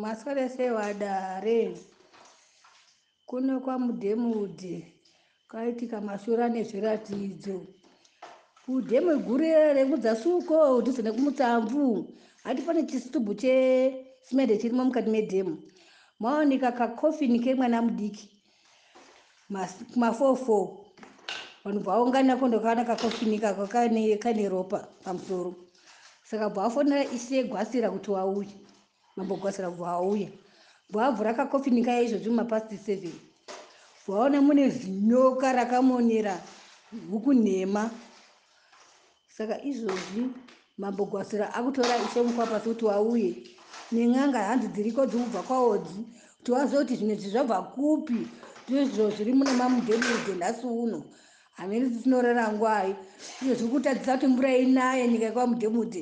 Maswera sei wadare? Kuno kwaMudhemudhe kwaitika mashura nezviratidzo. Kudhemu gure rekudzasuko dhuze nekumutsamvu hati pane chisitubhu chesimende chirimo mukati medhemu maoneka kakofini kemwana mudiki Kumafofo vanhu bvaungana ko ndokana kakofinika kakane kane ropa pamusoro saka bvafonera ishe gwasira kuti wauye mambo gwasira kubva wauya bvavhura kakofinika yaizvozvi mumapasti seven bvaona mune zinyoka rakamonera huku nhema Saka izvozvi mambo Gwasira akutora ishe Mukwapasi kuti wauye nen'anga hanzi dziriko dzikubva kwaodzi kuti wazive kuti zvimwe izvi zvabva kupi ndizvo zviri mune mamudhebiri dzenhasi uno hameno dzisinorera ngwai izvo zviri kutadzisa kuti mvura inaye nyika yekwaMudhemudhe